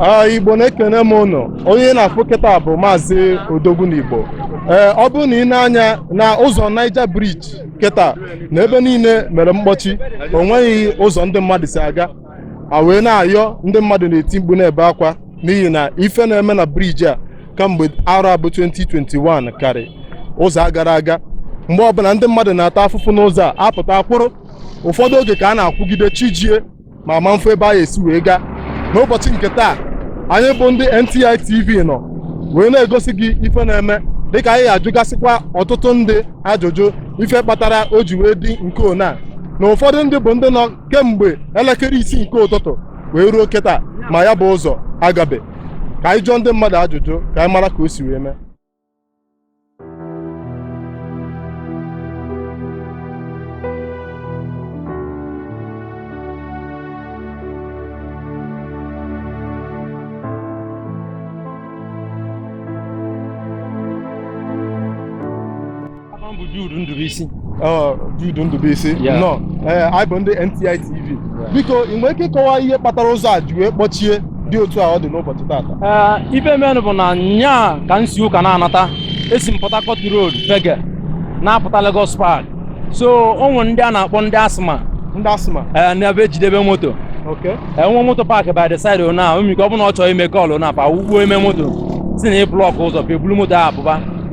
Ah, igbo na-ekene m ụnụ onye ị na-afụ kịta bụ maazị odogwu na igbo ee ọ bụrụ na ị nee anya na ụzọ Niger Bridge kịta na ebe niile mere mkpọchi o nweghị ụzọ ndị mmadụ si aga a wee na-ayọ ndị mmadụ na-eti mkpu na-ebe akwa n'ihi na ife na-eme na briji a kamgbe arọ a bụ 2021 karị ụzọ a gara aga mgbe ọbụla ndị mmadụ na-ata afụfụ n'ụzọ a apụta kwụrụ ụfọdụ oge ka a na-akwụgide chi ejie ma a ma-afụ ebe a esi wee gaa n'ụbọchị nke taa anyị bụ ndị NTI TV nọ wee na-egosi gị ife na-eme dịka anyị ajụgasịkwa ọtụtụ ndị ajụjụ ife kpatara o ji wee dị nke ona na ụfọdụ ndị bụ ndị nọ kemgbe elekere isii nke ụtụtụ wee ruo kịta ma ya bụ ụzọ agabe ka anyị jụọ ndị mmadụ ajụjụ ka anyị mara ka o si wee mee Aha m bụ Jude Ndubisi. Ọ, Jude Ndubisi Yeah. nọ ee anyị bụ ndị NTI TV biko ị nwere ike ịkọwa ihe kpatara ụzọ a ji wee kpọchie dị otu a ọ dị n'ụbọchị taata Ee, ife menụ bụ na nya ka m si work na-anata esi m Port Harcourt Road Fege na-apụta Lagos Park so o nwere ndị a na-akpọ ndị asma ndị asịma ee na ebe ejidebe moto okay e nwee moto paakị by the side ona omike ọ bụrụ na ọ chọrọ ime call na pa wụkpo ime moto sị na ị blọkụ ụzọ pa ebulu moto ahụ pụba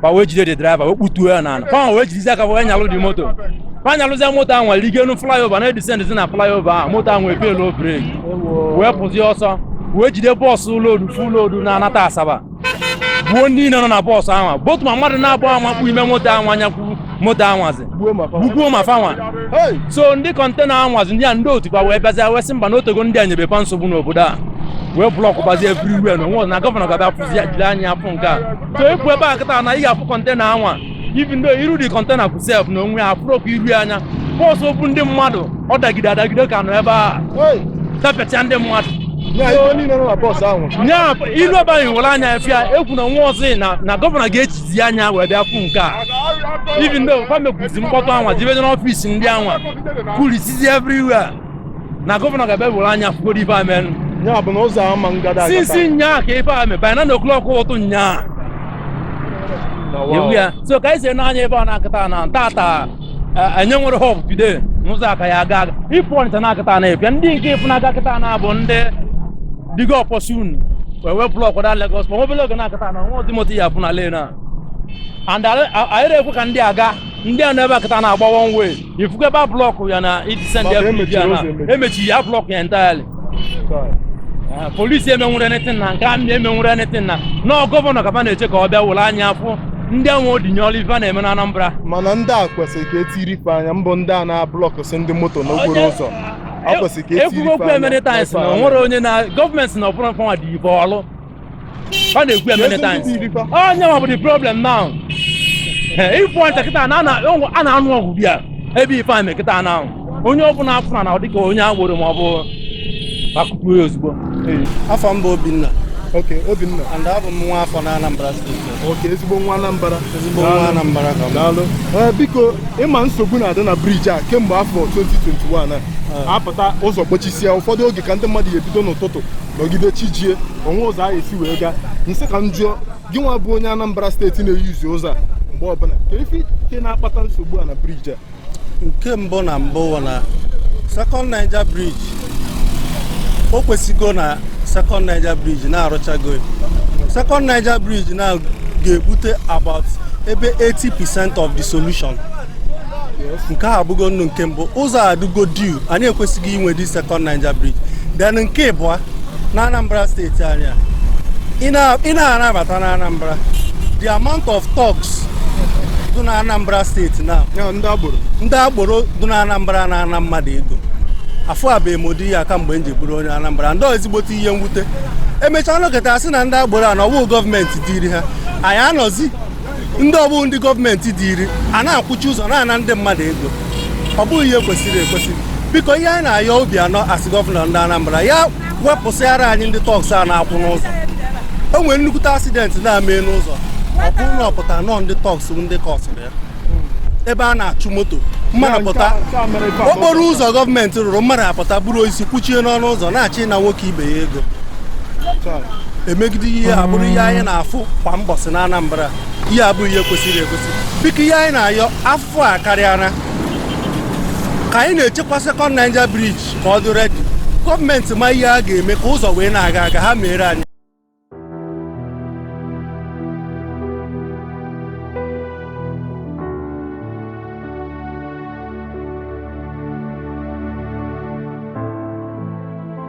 pa wee jide the draiva wee kputuo ya n'ala pa wee jidizi aka wee nyalụ the moto pa nyalụzie moto ahụ wee rigo enu flyover na-edisendịzi na flyover ahụ moto ahụ wee pelu breki wee pụzie ọsọ wee jide bọọsụ loodu full loodu na-anata Asaba gbuo ndị niile nọ na bọọsụ ahụ both ma mmadụ naabọ amakpu ime moto ahụ anyakwu moto anwazi gbugbuo ma fanwa so ndị kọntena anwazi ndị a ndị otu pa wee bịazịa wee sị mba na o tego ndị a nyebe pa nsogbu n'obodo a wee blọkụbazie everywhere na onwe na gọvanọ ga-abịa fụzi ya jiri anya afụ nke a so ị pụ ebe a kịta na ị ga-afụ kọntena anwa even though iru the kọntena bụ sef na onwe ya afụrọkwa iru ya anya bọọsụ bu ndị mmadụ ọ dagide adagide ka nọ ebe a tapịacha ndị mmadụ Ya ife niile nọ na bọọsụ ahụ. nya i lu ebe a ị were anya afụ ya ekwu na nwa ọzọ na na gọvanọ ga-ejizi anya wee bịa fụ nke a even though fa mekwuzi mkpọtụ anwa jebede n'ọfisi ndị anwa kurisizi everywhere na gọvanọ ga-abịa were anya fugoro ife a merụ ya bụ na ụzọ ama ngada since nyaa ka ife a mee by nine o'clock ụtụtụ nyaa ewu ya so ka anyị si n'anya ebe a na-akịta na tata anyị enwerọ hope today na ụzọ a ka ya-aga aga ịpụ Ọnịcha na-akịta na epịa ndị nke ị fụ na-aga kịta na bụ ndị digo ọpọsun wee wee blọk da Lagos ma obele oge na-akịta na nwa ụdị moto ya-apụ na lane a and anyị na-ekwe ka ndị aga ndị a nọ ebe a kịta na-agba one way ị fụgo ebe a blọkụ ya na this end ya briji a na emechi ya blọkụ ya entirely ah, polisi emenwurọ anything na nke army emenwurọ anything na ọ gọvanọ ka a na-eche ka ọ bịa were anya afụ ndị enwe odinye ọrụ ife na-eme na Anambra mana ndị a kwesịrị ka etiri ife anya mbụ ndị a na-ablọkụsị ndị moto n'okporo ụzọ ekwugo okwu a many times na o nwerọ onye na gọọmenti na ọ bụrọ fanwa dị ibe ọlụ ọ na-ekwu ya many times onye ma bụ the problem now ị fụ Ọnịcha kịta na a na-anụ ọgụ bịa ebe ife a mee kịta na onye ọ bụla a fụ na ọ dịka onye agboro ma ọ bụ akụpụ ya ozugbo afa m bụ Obinna Okay, Obinna. And abụ m nwa afọ na Anambra steeti. Okay, ezigbo nwa Anambra. Ezigbo nwa Anambra ka m. Daalụ. Eh, biko, ị ma nsogbu na-adị na briji a kemgbe afọ 2021 a. Eh. A pụta ụzọ kpochisia ụfọdụ oge ka ndị mmadụ ya-ebido n'ụtụtụ nọgide chi jie o nwerọ ụzọ a ya-esi wee gaa m sị ka m jụọ gị nwa bụ onye Anambra steeti na-eyuzi ụzọ a mgbe ọbụla kee ife i che na-akpata nsogbu a na briji a nke mbụ na mbụ na Second Niger Bridge o kwesịgo na Second Niger Bridge na a rụchago Second Niger Bridge na ga-ebute about ebe 80% of the solution nke a bụgodu nke mbụ ụzọ adịgo due anyị ekwesịgo inwe the Second Niger Bridge then nke ịbụa na Anambra steeti anyị a ị na-abata na Anambra the amount of touts dị na Anambra steeti na ndị agboro dị na Anambra na-ana mmadụ ego afụbe m ụdị ya kamgbe m ji bụrụ onye Anambra ọ dị ezigbote ihe mwute e mechaa nọkọta a sị na ndị agboro a na ọ wụ gọọmenti tiiri ha anyị amazi ndị ọ bụ ndị gọọmenti tiiri ha na-akwụchi ụzọ na-ana ndị mmadụ ego ọ bụghị ihe kwesịrị ekwesị biko ihe anyị na-ayọ Obiano as gọvanọ ndị Anambra ya wepụsịara anyị ndị touts a na-akwụ n'ụzọ o nwere nnukwute accident na-eme n'ụzọ ọ bụrụ na ọ pụta na ọ ndị touts ndị kọzịrị ya ebe a na-achụ moto mmadụ pụta okporo ụzọ gọọmenti rụrụ mmadụ apụta buru osisi kụchie n'ọnụ ụzọ na-achọ ịna nwoke ibe ya ego emegide ihe a bụrụ ihe anyị na-afụ kwa mbọsị na Anambra ihe a bụghị ihe kwesịrị ekwesị biko ihe anyị na-ayọ afụfụ akarịala ka anyị na-echekwa sekọnd Niger briji ka ọ dị redi gọọmenti ma ihe a ga-eme ka ụzọ wee na-aga aga ha meere anyị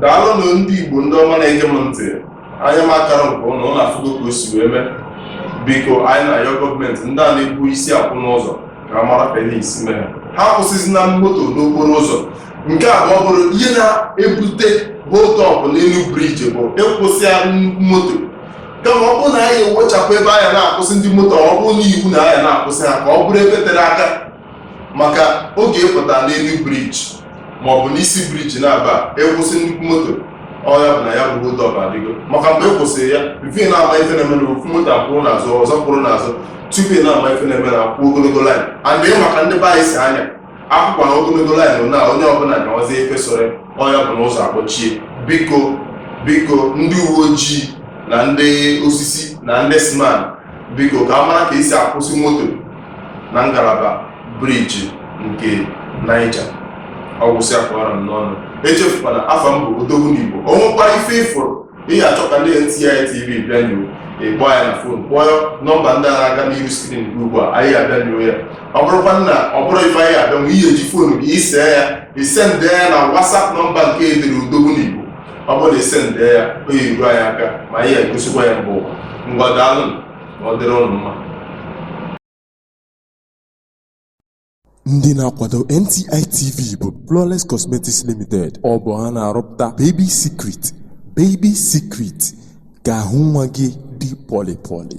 daalụnụ ndị Igbo ndị ọma na-ege m ntị anya m akarọ nke ụnụ ụnụ afụgo ka o si wee mee biko anyị na-ayọ gọọmenti ndị a na-ebu isi akwụ n'ụzọ ka a mara ka a ya-esi mee ha akwụsịzina moto n'okporo ụzọ nke a ma ọ bụrụ ihe na-ebute hold up n'elu briji bụ ịkwụsị ya nnukwu moto kama ọ bụrụ na anyị ewechapụ ebe a ya na-akwụsị ndị moto ọ bụrụ na iwu na a ya na-akwụsị ha ka ọ bụrụ ebe tere aka maka oge ị pụta n'elu briji maọbụ n'isi briji na-aba akwụsị nnukwu moto ọya bụ na ya bụ hold up adịgo maka mgbe ị kwụsịrị ya bifọ ị na-ama ife na-eme na ofu moto akwụrụ n'azụ ọzọ kwụrụ n'azụ tupu ị na-ama ife na-eme na akwụ ogologo laịn and maka ndị be anyị si a ya akwụkwa na ogologo laịn na onye ọbụla gawazie ife sọrọ ọya bụ na ụzọ akpọchie biko biko ndị uwe ojii na ndị osisi na ndị siman biko ka a mara ka esi akwụsị moto na ngalaba briji nke Niger ọ gwụsịa ka ọ ra m n'ọnụ echefukwana afa m bụ odogwu n'Igbo o nwekwara ife ị fụrụ ị ga-achọ ka ndị NTI TV bịa nyoo ịkpọ ya na fon kpọọ nọmba ndị a na-aga n'ihu skrin gị ugbu a anyị abịa nyoo ya ọ bụrụkwa na ọ bụrọ ife anyị ya-abịanwu ị ya-eji fonu gị ise ya isendị ya na wasap nọmba nke edere odogwu n'Igbo ọ bụrụ na isendị ya ozi ruo anyị aka ma anyị egosikwa ya mbụ ngwa daalụ ndị na-akwado NTI TV bụ Flawless Cosmetics Limited ọ bụ ha na-arụpụta Baby Secret Baby Secret ka ahụ nwa gị dị pọlị pọlị